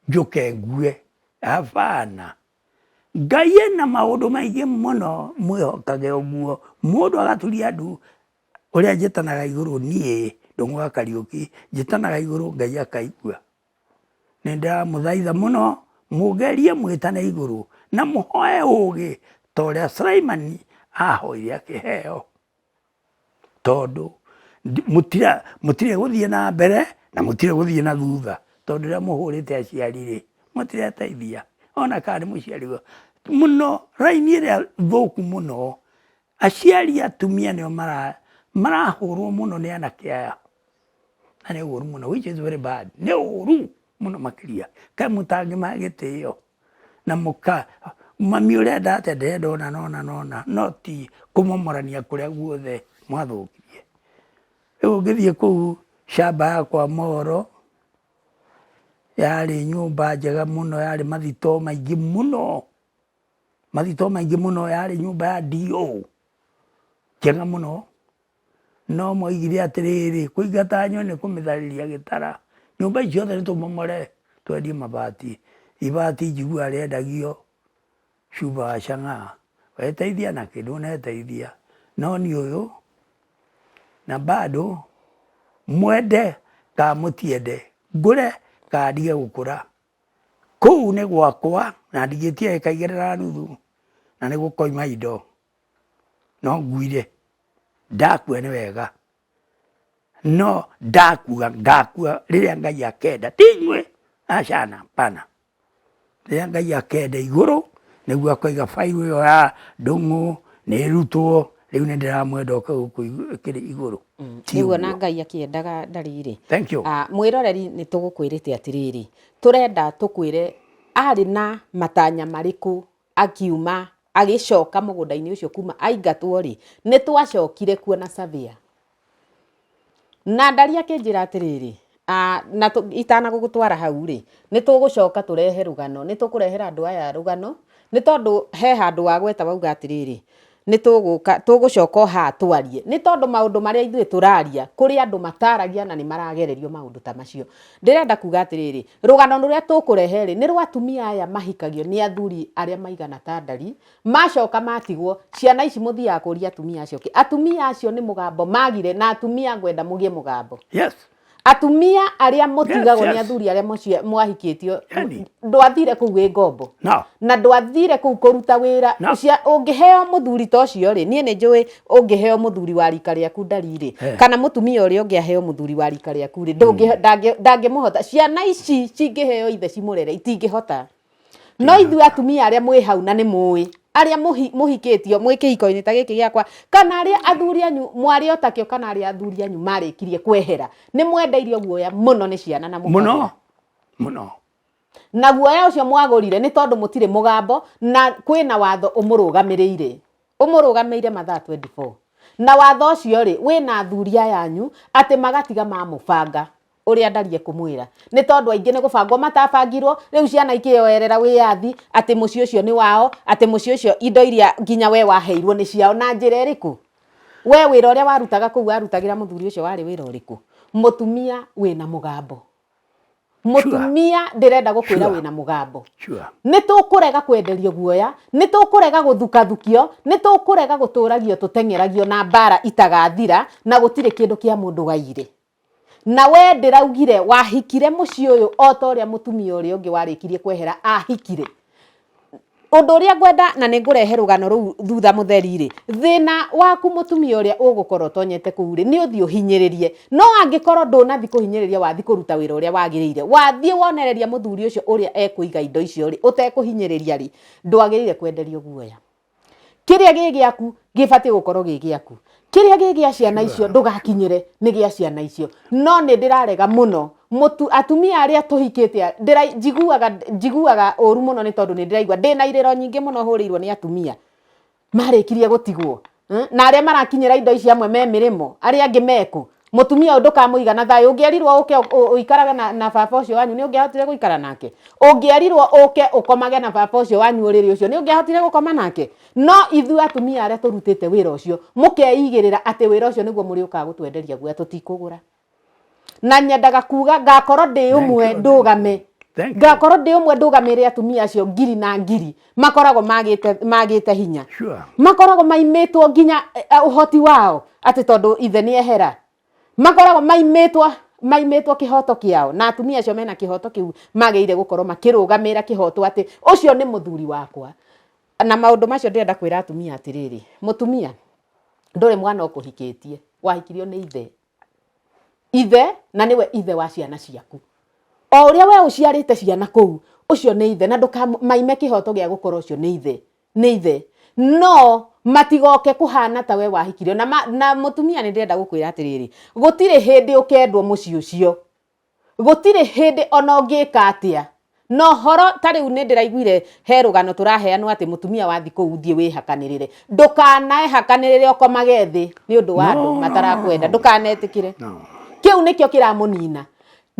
njũke ngue, abana. Ngai ena maũndũ maingĩ mũno mwĩhokage ũguo mũndũ agaturia ndu ũrĩa njĩtanaga igũrũ niĩ ndũng'ũga Kariũki, njĩtanaga igũrũ Ngai akaigua. Nĩndĩramũthaitha mũno mũngerie mwĩtane igũrũ na mũhoe ũgĩ ta ũrĩa Sulaimani ahoire akĩheo. Tondũ mũtirĩ gũthiĩ na mbere na mũtirĩ gũthiĩ na thutha tondũ rĩrĩa mũhũrĩte aciari rĩ, mũtireteithia ona kana nĩ mũciari mũno, raini ĩrĩa thũku mũno Aciari atumia nĩo marahũrwo mũno nĩ anake aya, na nĩ ũru mũno which is very bad, nĩ ũru mũno makĩria, kaĩ mũtangĩmahe gĩtĩo na mũka, mami ũrĩa endaga atĩ ndĩrenda ũna na ũna na ũna no ti kũmomorania kũrĩa guothe mwathũkirie. Rĩu ũngĩthiĩ kũu shamba ya kwa Moro, yarĩ nyũmba njega mũno, yarĩ mathito maingĩ mũno, mathitoo maingĩ mũno yarĩ nyũmba ya DO njega mũno, no mwaugire atĩrĩrĩ, kũingata nyoni nĩ kũmĩtharĩria gĩtara, nyũmba icio ciothe nĩtũmomore twendie mabati, ibati njiguaga rĩendagio cuba wa chang'aa, weteithia nakĩ? ndũneteithia, no niĩ ũyũ, na bado mwende kana mũtiende, ngũre kana ndige gũkũra, Kũu nĩ gwakwa na ndingĩtia ĩka igĩrĩ na nuthu na nĩ gũkoima indo, no nguire, ndakua nĩ wega, no ndakua ngakua rĩrĩa Ngai akenda ti inyuĩ, aca hapana. Rĩrĩa Ngai akenda igũrũ nĩguo akoiga bairũ ĩyo ya ndũng'ũ nĩ ĩrutwo, rĩu nĩ ndĩramwenda oke gũkũ igũrũ. Mm, nĩguo na ngai akĩendaga ndarĩrĩ ah, mwĩroreri nĩ tũgũkwĩrĩte atĩrĩrĩ tũrenda tũkwĩre arĩ na matanya marĩkũ akiuma agĩcoka mũgũnda-inĩ ũcio kuma aingatwo rĩ nĩ twacokire kuo na savia na ndari akĩnjĩra atĩrĩrĩ Aa, na tũ- itanagũgũtwara hau rĩ nĩ tũgũcoka tũrehe rũgano nĩ tũkũrehera andũ aya rũgano nĩ tondũ he handũ wagweta wauga atĩrĩrĩ nĩ tũgũka tũgũcoka oha twarie nĩ tondũ maũndũ marĩa ithuĩ tũraria kũrĩ andũ mataragia na nĩ maragererio maũndũ ta macio ndĩrenda kuga atĩrĩrĩ rũgano rũrĩa tũkũrehe rĩ nĩ rwa atumia aya mahikagio nĩ athuri arĩa maigana ta ndari macoka matigwo ciana ici muthiaga kuria atumia acio ki atumia acio ni mugambo magire na atumia ngwenda mugie mugambo yes atumia aria mutigagwo yes, yes. ni athuri aria mwahikitio yani. ndwathire kuu wi ngombo no. na ndwathire kuu kuruta wira no. ucia ungiheo muthuri ta ucio ri nie ni njui ungiheo muthuri wa rika riaku ndariri hey. Eh. kana mutumia uria ungi aheo muthuri wa rika riaku ri hmm. ndangimuhota ciana ici cingiheo ithe cimurere itingihota no ithuĩ atumia arĩa mwĩ hau na nĩ mũĩ arĩa mũhikĩtio mwĩ kĩhiko-inĩ ta gĩkĩ gĩakwa kana arĩa athuri anyu mwarĩ otakĩo kana arĩa athuri anyu marĩkirie kwehera nĩ mwendeirio guoya mũno nĩ ciana na mũno mũno na guoya ũcio mwagũrire nĩ tondũ mũtirĩ mũgambo na kwĩna watho ũmũrũgamĩrĩire ũmũrũgamĩire mathaa 24 na watho ũcio rĩ wĩna athuri ayanyu atĩ magatiga mamũbanga ũrĩa ndarie kũmwĩra nĩ tondũ aingĩ nĩ gũbangwo matabangirwo rĩu ciana ikĩyoerera wĩyathi atĩ mũciĩ ũcio nĩ wao atĩ mũciĩ ũcio indo iria nginya we waheirwo nĩ ciao na njĩra ĩrĩkũ we wĩra ũrĩa warutaga kũu warutagĩra mũthuri ũcio warĩ wĩra ũrĩkũ mũtumia wĩna mũgambo mũtumia ndĩrenda gũkwĩra wĩna mũgambo nĩ tũkũrega kwenderio guoya nĩ tũkũrega gũthukathukio nĩ tũkũrega gũtũragio tũteng'eragio na mbara itagathira na gũtirĩ kĩndũ kĩa mũndũ gairĩ Na wee ndĩraugire wahikire mũciĩ ũyũ o ta ũrĩa mũtumia ũrĩa ũngĩ warĩkirie kwehera ahikire. Ũndũ ũrĩa ngwenda na nĩ ngũrehe rũgano rũu thutha mũtheri-rĩ, thĩna waku mũtumia ũrĩa ũgũkorwo ũtonyete kũu-rĩ, nĩ ũthiĩ ũhinyĩrĩrie. No angĩkorwo ndũnathiĩ kũhinyĩrĩria wathiĩ kũruta wĩra ũrĩa wagĩrĩire, wathiĩ wonereria mũthuri ũcio ũrĩa ekũiga indo icio-rĩ, ũtekũhinyĩrĩria-rĩ, ndwagĩrĩire kwenderio guoya. kĩrĩa gĩ gĩaku gĩbatiĩ gũkorwo gĩ gĩaku kĩrĩa gĩ gĩa ciana icio ndũgakinyĩre nĩ gĩa ciana icio no nĩ ndĩrarega mũno mũtu atumia arĩa tũhikĩte a- ndĩra- njiguaga njiguaga ũru mũno nĩ tondũ nĩ ndĩraigua ndĩ na irĩro nyingĩ mũno hũrĩirwo nĩ atumia marĩkirie gũtigwo Eh, na arĩa marakinyĩra indo ici amwe me mĩrĩmo arĩa angĩ meku mutumia uyu ndukamuiga na thayu ungierirwo uke uikarage na, na baba ucio wanyu ni ungiahotire guikara nake ungierirwo uke ukomage na baba ucio wanyu uriri ucio ni ungiahotire gukoma nake no ithu atumia aria turutite wira ucio mukeigirira ati wira ucio niguo muri ukaga gutwenderia guya tutikugura na nyendaga kuga ngakorwo ndi umwe ndugame ngakorwo ndi umwe ndugamire atumia acio ngiri na ngiri makoragwo magite magite hinya sure. makoragwo maimitwo nginya eh, eh, uhoti wao ati tondu ithe ni ehera makoragwo maimitwo maimitwo kihoto kiao na atumia acio mena kihoto kiu mageire gukorwo makirugamira kihoto ati ucio ni muthuri wakwa na maundu macio ndirenda kwira atumia atiriri mutumia nduri mwana ukuhikitie wahikirio ni ithe ithe na nĩwe ithe wa ciana ciaku o ũrĩa we ũciarĩte ciana kũu ũcio nĩ ithe na ndũkamaime kĩhoto gĩa gũkorwo ũcio nĩ ithe nĩ ithe no matigoke kũhana ta we wahikirio na, ma, na mũtumia nĩ ndĩrenda gũkwĩra atĩrĩrĩ gũtirĩ hĩndĩ ũkendwo mũciĩ ũcio Gũtirĩ hĩndĩ ona ũngĩka atĩa. Na ũhoro ta rĩu nĩ ndĩraiguire he rũgano tũraheanwo atĩ mũtumia wa thikũ ũthiĩ wĩhakanĩrĩre. Ndũkanehakanĩrĩre ũkomage thĩ nĩ ũndũ wa andũ matarakwenda. Ndũkanetĩkĩre. Kĩu nĩkĩo kĩramũnina.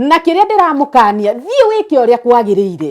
Na kĩrĩa ndĩramũkania, thiĩ wĩke ũrĩa kwagĩrĩire.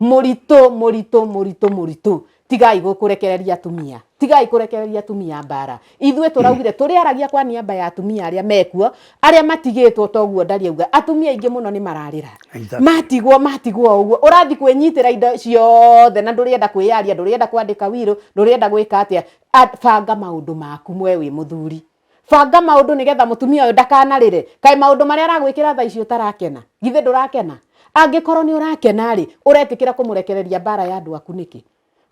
mũritũ mũritũ mũritũ mũritũ tigai kũrekereria atumia tigai kũrekereria atumia mbara ithuĩ tũraugire tũrĩ aragia kwa niaba ya atumia arĩa mekuo arĩa matigĩtwo toguo ndari auga atumia aingĩ mũno nĩ mararĩra Exactly. matigwo matigwo ũguo ũrathi kwĩnyitĩra indo ciothe na ndũrĩenda kwĩyaria ndũrĩenda kwandĩka wirũ ndũrĩenda gwĩka atĩa A- banga maũndũ maku mwe wĩ mũthuri banga maũndũ nĩgetha mũtumia ũyũ ndakanarĩre kaĩ maũndũ marĩa aragwĩkĩra thaa ici ũtarakena githĩ ndũrakena angĩkorwo nĩ ũrakena rĩ ũretĩkĩra kũmũrekereria mbara ya andũ aku nĩkĩ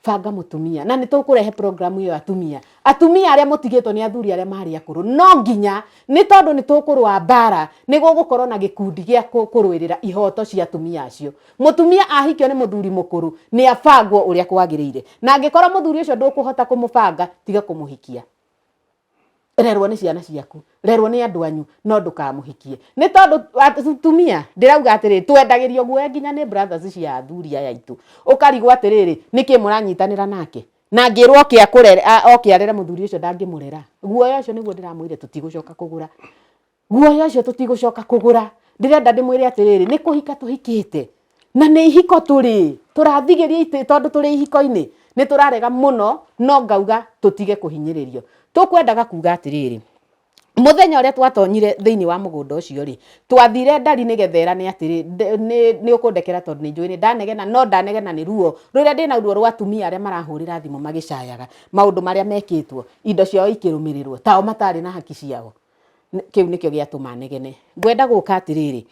banga mũtumia na nĩtũkũrehe programu ĩyo atumia atumia arĩa mũtigĩtwo nĩ athuri arĩa marĩ akũrũ no nginya nĩ tondũ nĩ tũkũrũa mbara nĩ gũgũkorwo na gĩkundi gĩa kũ- kũrũĩrĩra ihoto cia atumia acio mũtumia ahikio nĩ mũthuri mũkũrũ nĩ abangwo ũrĩa kwagĩrĩire na angĩkorwo mũthuri ũcio ndũkũhota kũmũbanga tiga kũmũhikia rerwo nĩ ciana ciaku rerwo nĩ andũ anyu no ndũkamũhikie nĩ tondũ tumia ndĩrauga atĩrĩ twendagĩrio guoya nginya nĩ brothers cia athuri aya aitũ ũkarigwo atĩrĩrĩ nĩkĩ mũranyitanĩra nake na ngĩrwo oke akũrere oke arere mũthuri ũcio ndangĩmũrera guoya ũcio nĩguo ndĩramwĩre tũtigũcoka kũgũra guoya ũcio tũtigũcoka kũgũra ndĩrenda ndĩmwĩre atĩrĩrĩ nĩ kũhika tũhikĩte na nĩ ihiko tũrĩ tũrathigĩria itĩ tondũ tũrĩ ihiko-inĩ nĩ tũrarega mũno no ngauga tũtige kũhinyĩrĩrio tũkwendaga kuga atĩrĩrĩ mũthenya ũrĩa twatonyire thĩinĩ wa mũgũnda ũcio rĩ twathire ndari nĩ getherane atĩrĩ nĩ ũkũndekera tondũ nĩ njũĩ nĩ ndanegena no ndanegena nĩ ruo rũrĩa ndĩna ruo rwa atumia arĩa marahũrĩra thimũ magĩcayaga maũndũ marĩa mekĩtwo indo ciao ikĩrũmĩrĩrwo tao matarĩ na haki ciao Kĩu nĩkĩo gĩatũma negene. Ngwenda gũka atĩrĩrĩ,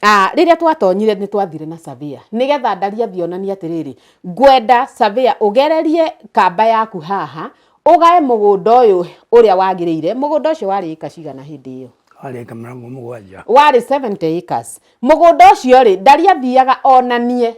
Ah, rĩrĩa twatonyire nĩ twathire na savia nĩgetha ndari athionania atĩrĩrĩ ngwenda savia ũgererie kamba yaku haha ũgae mũgũnda ũyũ ũrĩa wagĩrĩire mũgũnda ũcio warĩ ĩka cigana hĩndĩ ĩyo warĩ ĩka mĩrongo mũgwanja warĩ 70 acres mũgũnda ũcio rĩ ndari athiaga onanie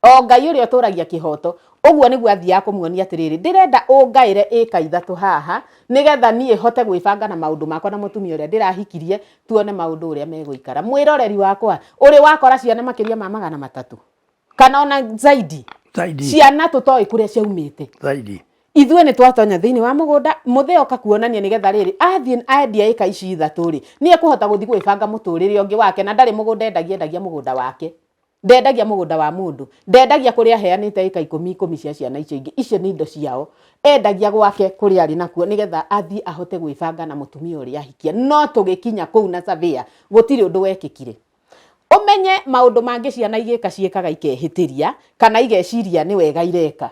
O Ngai ũrĩa ũtũũragia kĩhooto. Ũguo nĩguo aathiaga kũmuonia atĩrĩrĩ, Ndĩrenda ũngaĩre ĩĩka ithatũ haha, nĩgetha niĩ hote gwĩbanga na maũndũ makwa na mũtumia ũrĩa ndĩrahikirie, tuone maũndũ ũrĩa megũikara. Mwĩroreri wakwa, ũrĩ wakora ciana makĩria ma magana matatũ? Kana o na zaidi? Zaidi. Ciana tũtoĩ kũrĩa ciaumĩte. Zaidi. Ithuĩ nĩ twatonya thĩinĩ wa mũgũnda, mũthee oka kuonania nĩgetha rĩrĩ, athiĩ endia ĩĩka ici ithatũ-rĩ, nĩ ekũhota gũthiĩ gwĩbanga mũtũũrĩre ũngĩ wake, na ndarĩ mũgũnda endagia, endagia mũgũnda wake. Ndendagia mũgũnda wa mũndũ. Ndendagia kũrĩa aheanĩte ĩka ikũmi ikũmi cia ciana icio ingĩ. Icio nĩ indo ciao. Endagia gwake kũrĩa arĩ nakuo nĩgetha athiĩ ahote gwĩbanga na mũtumia ũrĩa ahikia. No tũgĩkinya kũu na surveyor, gũtirĩ ũndũ wekĩkire. Ũmenye maũndũ mangĩ ciana igĩka ciĩkaga ikehĩtĩria kana igeciria nĩ wega ireka.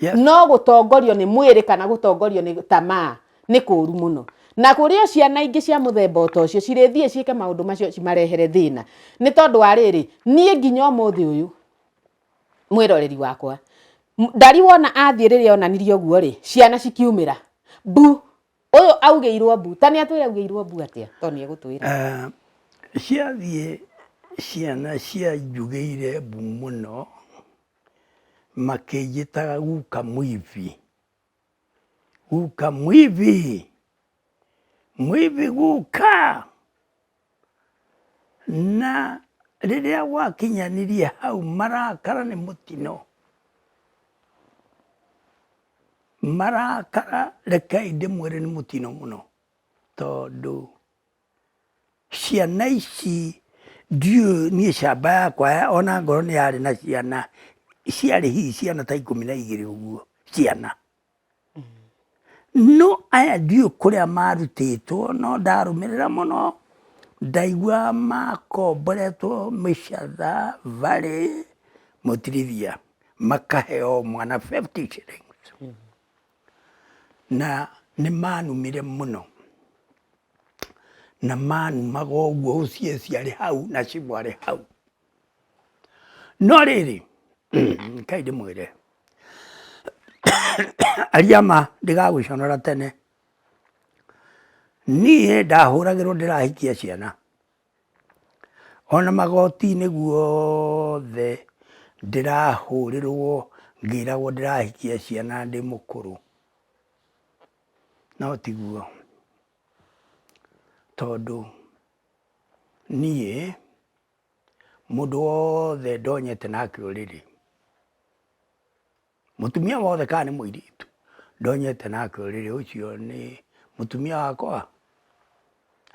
Yes. No gũtongorio nĩ mwĩrĩ kana gũtongorio nĩ tamaa Nĩ kũũru mũno. Na kũrĩ o ciana ingĩ cia mũthemba o ta ũcio cirĩthiĩ ciĩke maũndũ macio cimarehere thĩna. Nĩ tondũ wa rĩrĩ, niĩ nginya ũmũthĩ ũyũ, mwĩroreri wakwa, Ndari wona athiĩ rĩrĩa onanirie ũguo rĩ, ciana cikiumĩra, mbu, ũyũ augĩirwo mbu. Ta nĩ atwĩre augĩirwo mbu atĩa? To nĩ egũtwĩra. Ah, ciathiĩ ciana cianjugĩire mbu mũno, makĩnjĩtaga guka mwibi. Guka mwivi, mwivi guka. Na rĩrĩa gwakinyanirie hau marakara nĩ mũtino, marakara rekei ndĩmwĩre nĩ mũtino mũno tondũ Ciana ici ndiũĩ niĩ camba yakwa ona ngorwo nĩ yarĩ na ciana, ciarĩ hihi ciana ta ikũmi na igĩrĩ ũguo ciana. No aya ndiũĩ kũrĩa marutĩtwo no ndarũmĩrĩra mũno ndaigua makomboretwo mĩcatha, barĩ, mũtirithia makahe o mwana fifty shillings. Na nĩ manumire mũno. na manumaga ũguo ũcieci arĩ hau na cibũ arĩ hau. No rĩrĩ, kai ndĩmwĩre, aria ma ndigagũconora tene, niĩ ndahũragĩrwo ndĩrahikia ciana, ona magoti-inĩ guothe ndĩrahũrĩrwo ngĩragwo ndĩrahikia ciana ndĩ mũkũrũ. No tiguo, tondũ niĩ mũndũ wothe ndonyete na kĩũrĩrĩ, mũtumia wothe kana nĩ mũirĩtu ndonyete na kĩũrĩrĩ ũcio nĩ mũtumia wakwa?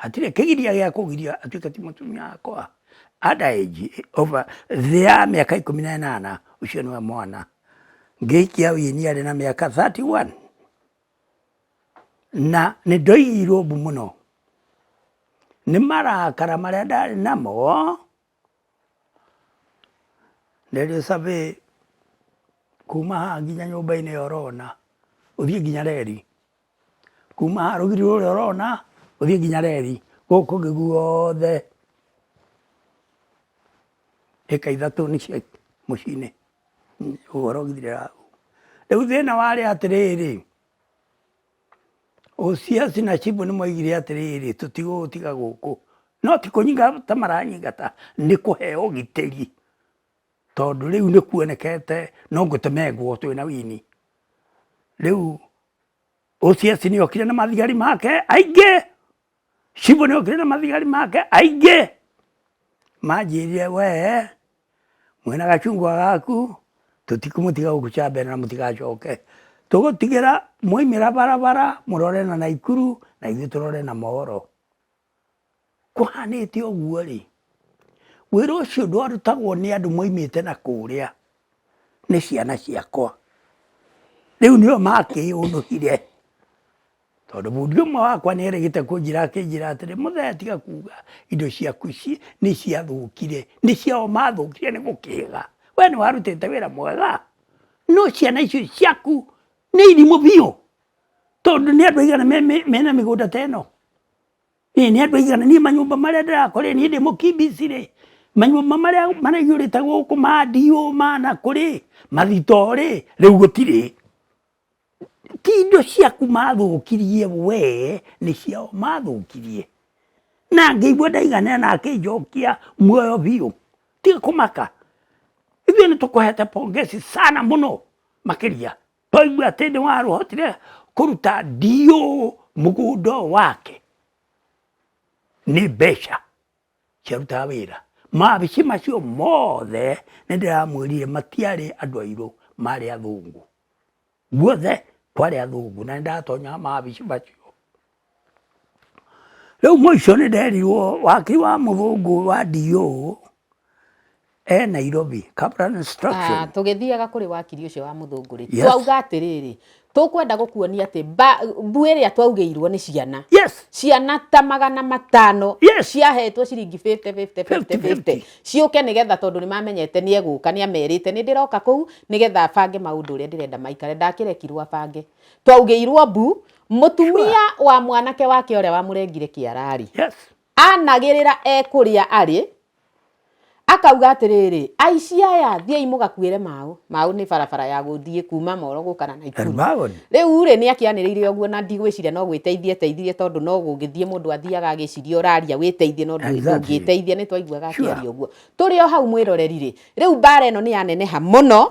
Hatirĩ kĩgiria gĩa kũgiria atuĩke ti mũtumia wakwa under age over thĩ ya mĩaka ikũmi na ĩnana ũcio nĩwe mwana ngĩikia wini arĩ na mĩaka 31 na nĩ ndoigirwo mbu mũno nĩ marakara marĩa ndarĩ namo rĩrĩ survey kuma haha nginya nyũmba-inĩ ũrona ũthiĩ nginya reri kuma rũgiri rũrĩa ũrona ũthiĩ nginya reri gũkũ kũngĩ guothe ĩka ithatũ nĩ cia mũciĩ-inĩ ũhoro ũgithirĩra hau rĩu thĩna warĩ atĩrĩrĩ Osiasi na Chibu nĩ moigire atĩrĩrĩ tũtigũgũtiga gũkũ no ti kũnyingata maranyingata nĩ kũheo ũgitĩri. tondũ rĩu nĩ kuonekete no ngũtemengwo twĩ na wini rĩu ũciaci nĩ okire na mathigari make aingĩ cibũ nĩ okire na mathigari make aingĩ manjĩrire wee mwĩna gacungwa gaku tũtikũmũtiga gũkũ cambere na mũtigacoke tũgũtigĩra mwaimĩra barabara mũrore na naikuru na ithuĩ tũrore na mohoro Kũhanĩte ũguo rĩ, wĩra ũcio ndwarutagwo nĩ andũ maumĩte na kũrĩa, nĩ ciana ciakwa. Rĩu nĩo makĩũnũhire tondũ bundi ũmwe wakwa nĩ erĩgĩte kũnjĩra akĩnjĩra atĩrĩ, Mũthee tiga kuuga indo ciaku ici nĩ ciathũkire, nĩ ciao mathũkire nĩ gũkĩga. We nĩ warutĩte wĩra mwega, no ciana icio ciaku nĩ irimũ biũ tondũ nĩ andũ aigana mena mĩgũnda ta ĩno? Ĩĩ nĩ andũ aigana niĩ manyũmba marĩa ndĩrakora niĩ ndĩ mũkimbici rĩ, manyũmba marĩa maraihũrĩte gũkũ ma ndiũ ma nakũ rĩ, mathitoo rĩ, rĩu gũtirĩ. Ti indo ciaku mathũkirie wee, nĩ ciao mathũkirie. Na ngĩigua ndaiganĩra akĩnjokia muoyo biũ. Tiga kũmaka. Ithuĩ nĩ tũkũhete pongezi sana mũno makĩria. Twaigua atĩ nĩ warũhotire kũruta ndiũ mũgũnda wake nĩ mbeca ciarutaga wĩra. Maabici macio mothe nĩ ndĩramwĩrire matiarĩ andũ airũ marĩ athũngũ. Guothe kwarĩ athũngũ na nĩ ndatonyaga maabici macio. Rĩu mwĩ ũcio nĩ nderirwo waki wa mũthũngũ wa DO e Nairobi, Kaplan Instruction. Ah, tũgĩthiaga kũrĩ wakiri ũcio wa mũthũngũ rĩ Yes. twauga atĩrĩrĩ tũkwenda gũkuonia atĩ mba- mbu ĩrĩa twaugĩirwo nĩ ciana Yes, ciana ta magana matano Yes. ciahetwo ciringi 50, 50, 50, 50. ciũke nĩgetha tondũ nĩ mamenyete nĩ egũka nĩ amerite nĩ ndĩroka kũu nĩgetha abange maũndũ ũrĩa ndĩrenda maikare ndakĩrekirwo abange twaugĩirwo mbu mũtumia wa mwanake wake ũrĩa wamũrengire kĩararĩ yes. anagĩrĩra ekũrĩa arĩ akauga atĩrĩrĩ aici aya thiai mũgakuĩre maũ maũ nĩ barabara ya gũthiĩ kuma moro gũkana na ikuru rĩu rĩ nĩ akĩanĩrĩire ũguo na ndigwĩciria no gwĩteithia eteithirie tondũ no gũgĩthiĩ mũndũ athiaga agĩciria ũraria wĩteithie no ndũngĩteithia nĩ twaiguaga akĩaria ũguo tũrĩ o hau mwĩroreri rĩ rĩu mbara ĩno nĩ yaneneha mũno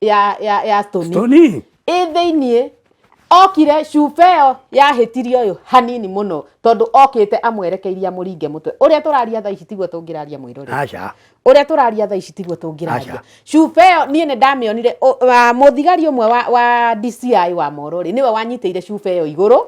ya ya ya stoni Tony. ĩ thĩiniĩ okire cuba ĩyo yahĩtirie ũyũ hanini mũno tondũ okĩte amwerekeirie amũringe mũtwe ũrĩa tũraria thaa ici tiguo tũngĩraria mwĩrore Aca. ũrĩa tũraria thaa ici tiguo tũngĩraria Aca. cuba ĩyo niĩ nĩ ndamĩonire ũ- wa- mũthigari ũmwe wa, wa DCI wa mororĩ nĩwe wanyitĩire cuba ĩyo igũrũ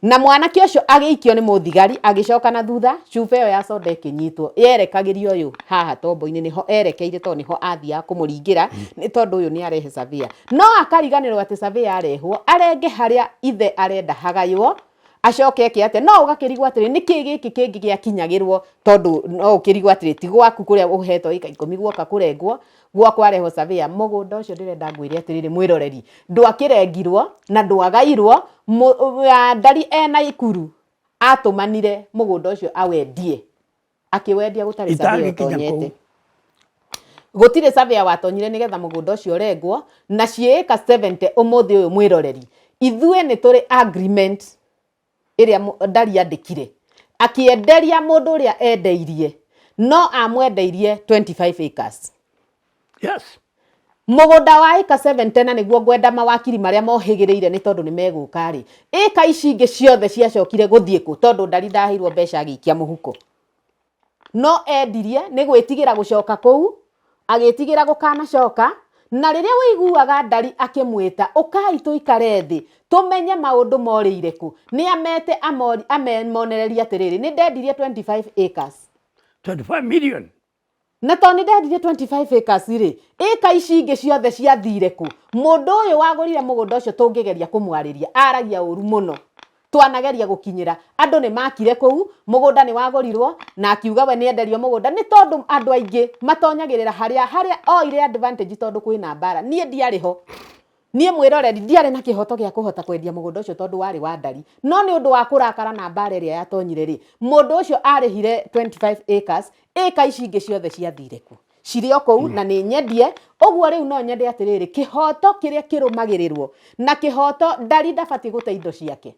na mwanake ũcio agĩikio nĩ mũthigari agĩcoka na thutha cuba ĩyo ya soda ĩkĩnyitwo yerekagĩria ũyũ haha tombo-inĩ nĩho erekeire tondũ nĩho athiaga kũmũringĩra nĩ tondũ ũyũ nĩ arehe savia no akariganĩrwo atĩ savia arehwo arenge harĩa ithe arenda hagaywo acoke eke atĩa no ũgakĩrigwo atĩrĩ nĩ kĩĩ gĩkĩ kĩngĩ gĩakinyagĩrwo tondũ no ũkĩrigwo atĩrĩ ti gwaku kũrĩa ũhetwo ĩka ikũmi guoka kũrengwo gwakwa reho savia mũgũnda ũcio ndĩrenda ngwĩre atĩrĩrĩ mwĩroreri ndwakĩrengirwo na ndwagairwo ndari ena ikuru atũmanire mũgũnda ũcio awendie akĩwendia gũtarĩ savia ũtonyete gũtirĩ savia watonyire nĩgetha mũgũnda ũcio ũrengwo na ciĩka 70 ũmũthĩ ũyũ mwĩroreri ithuĩ nĩ tũrĩ agreement ĩrĩa Ndari andĩkire, akĩenderia mũndũ ũrĩa endeirie, no amwendeirie 25 acres. Yes. Mũgũnda wa ĩka 7 tena nĩguo ngwenda mawakiri marĩa mohĩgĩrĩire nĩ tondũ nĩ megũka rĩ, ĩka ici ingĩ ciothe ciacokire gũthiĩ kũ tondũ Ndari ndaheirwo mbeca agĩikia mũhuko. no endirie nĩ gwĩtigĩra gũcoka kũu, agĩĩtigĩra gũkanacoka, na rĩrĩa waiguaga ndari akĩmwĩta, ũkai tũikare thĩ, tũmenye maũndũ morĩire kũ, nĩ amete amonererie atĩrĩrĩ, nĩ ndendirie 25 acres. 25 million. Na tondũ nĩ ndendirie 25 acres rĩ, ĩka ici ingĩ ciothe ciathire kũ? Mũndũ ũyũ wagũrire mũgũnda ũcio tũngĩgeria kũmwarĩria, aragia ũru mũno. twanageria gũkinyĩra andũ nĩ makire kũu mũgũnda nĩ wagũrirwo na akiuga we nĩ enderio mũgũnda nĩ tondũ andũ aingĩ matonyagĩrĩra harĩa harĩa oire advantage tondũ kwĩna mbara niĩ ndiarĩ ho niĩ mwĩroreri ndiarĩ na kĩhoto gĩa kũhota kwendia mũgũnda ũcio tondũ warĩ wa ndari no nĩ ũndũ wa kũrakara na mbara ĩrĩa yatonyire rĩ mũndũ ũcio arĩhire 25 acres ĩka ici ingĩ ciothe ciathire ku cirĩ o kũu na nĩ nyendie ũguo rĩu no nyende atĩrĩrĩ kĩhoto kĩrĩa kĩrũmagĩrĩrwo na kĩhoto ndari ndabatiĩ gũte indo ciake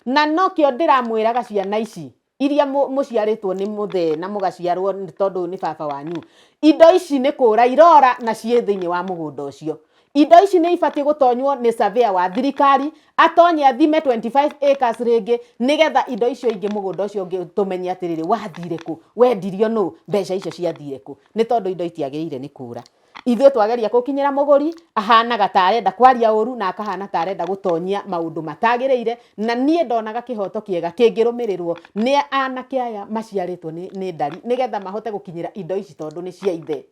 na nokĩo ndĩramwĩraga ciana ici iria mũ- mũciarĩtwo nĩ mũthee na mũgaciarwo nĩ- tondũ ũyũ nĩ baba wanyu indo ici nĩ kũra irora na ciĩ thĩinĩ wa mũgũnda ũcio indo ici nĩ ibatiĩ gũtonywo nĩ surveyor wa thirikari, atonye athime 25 acres rĩngĩ, nĩgetha indo icio ingĩ mũgũnda ũcio ũngĩ tũmenye atĩrĩrĩ, wathire kũ? Wendirio nũ? Mbeca icio ciathire kũ? Nĩ tondũ indo itiagĩrĩire nĩ kũũra. Ithuĩ twageria gũkinyĩra mũgũri, ahanaga ta arenda kwaria ũũru na akahana ta arenda gũtonyia maũndũ matagĩrĩire, na niĩ ndonaga kĩhoto kĩega kĩngĩrũmĩrĩrwo nĩ anake aya maciarĩtwo nĩ nĩ ndari, nĩgetha mahote gũkinyĩra indo ici tondũ nĩ cia ithe.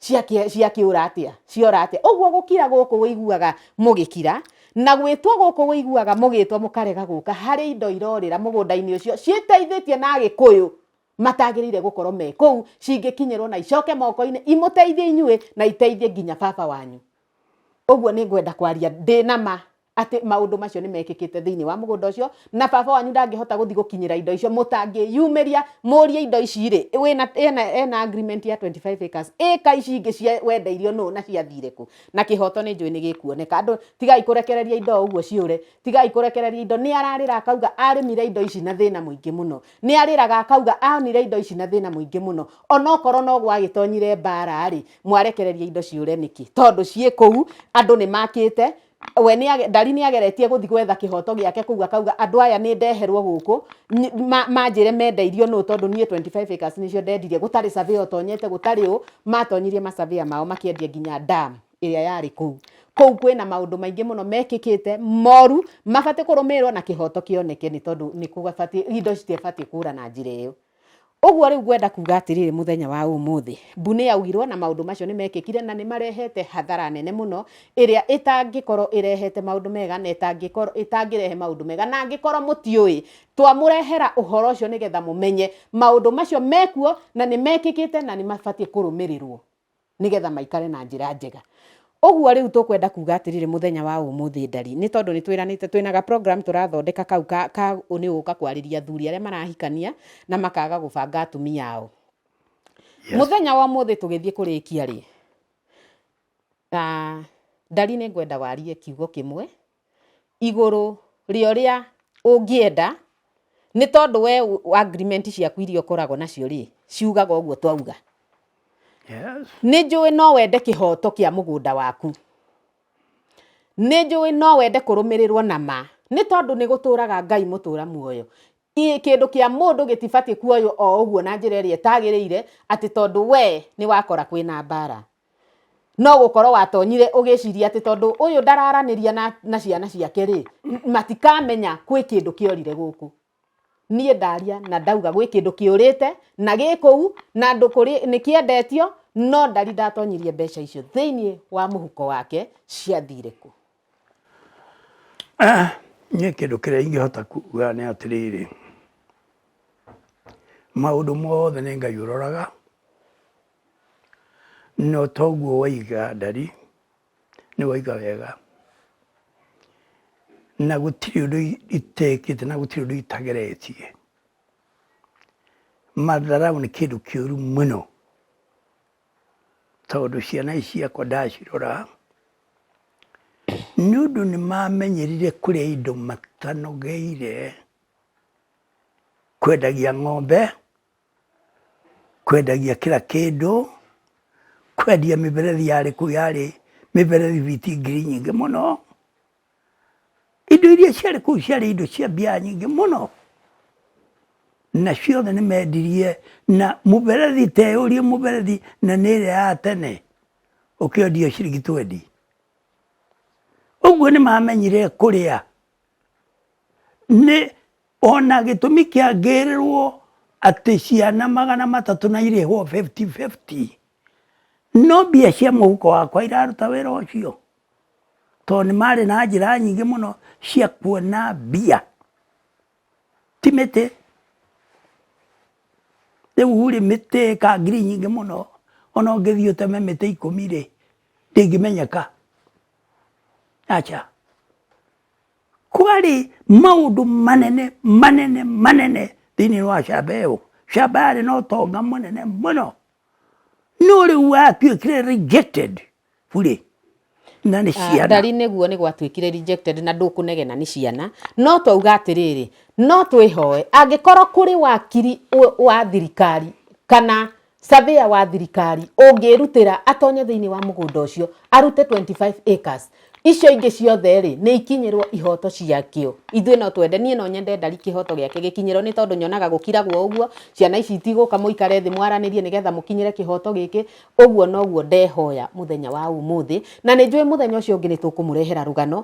ciakĩ- ciakĩũra atĩa ciora atĩa ũguo gũkira gũkũ wĩiguaga mũgĩkira na gwĩtwo gũkũ wĩiguaga mũgĩtwo mũkarega gũka harĩ indo irorĩra mũgũnda-inĩ ũcio ciĩteithĩtie na agĩkũyũ matagĩrĩire gũkorwo me kũu cingĩkinyĩrwo na icoke moko-inĩ imũteithie inyuĩ na iteithie nginya baba wanyu ũguo nĩ ngwenda kwaria ndĩ na ma atĩ maũndũ macio nĩ mekĩkĩte thĩinĩ wa mũgũnda ũcio na baba wanyu ndangĩhota gũthiĩ gũkinyĩra indo icio mũtangĩyumĩria mũrie indo ici rĩ wĩna ena, ena agreement ya 25 acres ĩka ici ingĩ cia wendeirio nũ na ciathire kũ na kĩhoto nĩ njũĩ nĩ gĩkuoneka andũ tigai kũrekereria indo ũguo ciũre tigai kũrekereria indo nĩ ararĩra akauga arĩmire indo ici na thĩna mũingĩ mũno nĩ arĩraga akauga aonire indo ici na thĩna mũingĩ mũno onokorwo no gwagĩtonyire mbara rĩ mwarekereria indo ciũre nĩkĩ tondũ ciĩ kũu andũ nĩ makĩte we nĩ ndari nĩ ageretie gũthi gwetha kĩhoto gĩake kũu akauga andũ aya nĩ ndeherwo gũkũ manjĩre mendeirio nũ tondũ niĩ 25 acres nĩcio ndendirie gũtarĩ survey otonyete gũtarĩ ũ matonyirie ma survey mao makĩendia nginya dam ĩrĩa yarĩ kũu kũu kwĩna maũndũ maingĩ mũno mekĩkĩte moru mabatiĩ kũrũmĩrĩrwo na kĩhoto kĩoneke nĩ tondũ nĩ kũbatiĩ indo citiĩbatiĩ kũra na njĩra ĩyo Ũguo rĩu ngwenda kuuga atĩrĩrĩ mũthenya wa ũmũthĩ, mbu nĩ yaugirwo na maũndũ macio nĩ mekĩkire na nĩ marehete hathara nene mũno ĩrĩa ĩtangĩkorwo ĩrehete maũndũ mega na ĩtangĩkorwo ĩtangĩrehe maũndũ mega. Na angĩkorwo mũtiũĩ, twamũrehera ũhoro ũcio nĩgetha mũmenye maũndũ macio mekuo na nĩ mekĩkĩte na nĩ mabatiĩ kũrũmĩrĩrwo. nĩgetha maikare na njĩra njega ũguo rĩu tũkwenda kuga atĩrĩrĩ mũthenya wa ũmũthĩ ndari nĩ tondũ nĩ twĩranĩte twĩna ga program tũrathondeka kau ka, ka nĩ ũka kwarĩria athuri arĩa marahikania na makaga gũbanga atumia ao yes. mũthenya wa ũmũthĩ tũgĩthiĩ kũrĩkia rĩ na ndari nĩ ngwenda warie kiugo kĩmwe igũrũ rĩa ũrĩa ũngĩenda, nĩ tondũ we agreement ciaku iria ũkoragwo nacio rĩ, ciugaga ũguo twauga. Nĩ njũĩ no wende kĩhoto kĩa mũgũnda waku. Nĩ njũĩ no wende kũrũmĩrĩrwo na ma. Nĩ tondũ nĩ gũtũraga Ngai mũtũra muoyo. Kĩndũ kĩa mũndũ gĩtibatiĩ kuoywo o ũguo na njĩra ĩrĩa ĩtagĩrĩire, atĩ tondũ we nĩ wakora kwĩna mbara. no gũkorwo watonyire ũgĩciria atĩ tondũ ũyũ ndararanĩria na, na ciana ciake rĩ matikamenya kwĩ kĩndũ kĩorire gũkũ niĩ ndaria na ndauga gwĩ kĩndũ kĩũrĩte na gĩ kũu na andũ kũrĩ nĩ kĩendetio no ndari ndatonyirie mbeca icio thĩinĩ wa mũhuko wake ciathire kũ niĩ kĩndũ kĩrĩa ingĩhota kuga nĩ atĩrĩrĩ maũndũ mothe nĩ ngai ũroraga No toguo waiga ndari, nĩ waiga wega. Na gũtirĩ ũndũ itekĩte na gũtirĩ ũndũ itageretie. Matharaũ nĩ kĩndũ kĩũru mũno tondũ ciana ici ciakwa ndacirora nĩ ũndũ nĩ mamenyerire kũrĩa indo matanogeire, kwendagia ng'ombe kwendagia kĩra kĩndũ, kwendia mĩberethi yarĩ kũu yarĩ mĩberethi biti ngiri nyingĩ mũno. Indo iria ciarĩ kũu ciarĩ indo cia mbia nyingĩ mũno na ciothe nĩ mendirie na mũberethi teyũrie mũberethi na nĩ ĩrĩa ya tene ũkĩendio ciringi twendi. Ũguo nĩ mamenyire kũrĩa Nĩ ona gĩtũmi kĩangĩrĩrwo atĩ ciana magana matatũ na irĩhwo fifty fifty, no mbia cia mũhuko wakwa iraruta wĩra ũcio? Tondũ nĩ marĩ na njĩra nyingĩ mũno cia kuona mbia, ti mĩtĩ. Rĩu rĩ mĩtĩ ĩka ngiri nyingĩ mũno ona ũngĩthiĩ ũteme mĩtĩ ikũmi rĩ, ndĩngĩmenyeka. aca kwarĩ maũndũ manene manene manene thĩinĩ wa camba ĩyo camba yarĩ na ũtonga mũnene mũno no rĩu watuĩkire rejected burĩ na nĩ ah, ciana ndari nĩguo nĩ gwatuĩkire rejected na ndũkũnegena nĩ ciana no twauga atĩrĩrĩ no twĩhoe angĩkorwo kũrĩ wakiri wa thirikari kana Surveyor wa thirikari ũngĩrutĩra atonye thĩinĩ wa mũgũnda ũcio arute 25 acres icio ingĩ ciothe rĩ nĩ ikinyĩrwo ihoto ciakĩo ithuĩ no twende niĩ no nyende ndari kĩhoto gĩake gĩkinyĩrwo nĩ tondũ nyonaga gũkiragwo ũguo ciana ici itigũka mũikare thĩ mwaranĩrie nĩgetha mũkinyĩre kĩhoto gĩkĩ ũguo noguo ndehoya mũthenya wa ũmũthĩ na nĩ njũĩ mũthenya ũcio ũngĩ nĩ tũkũmũrehera rũgano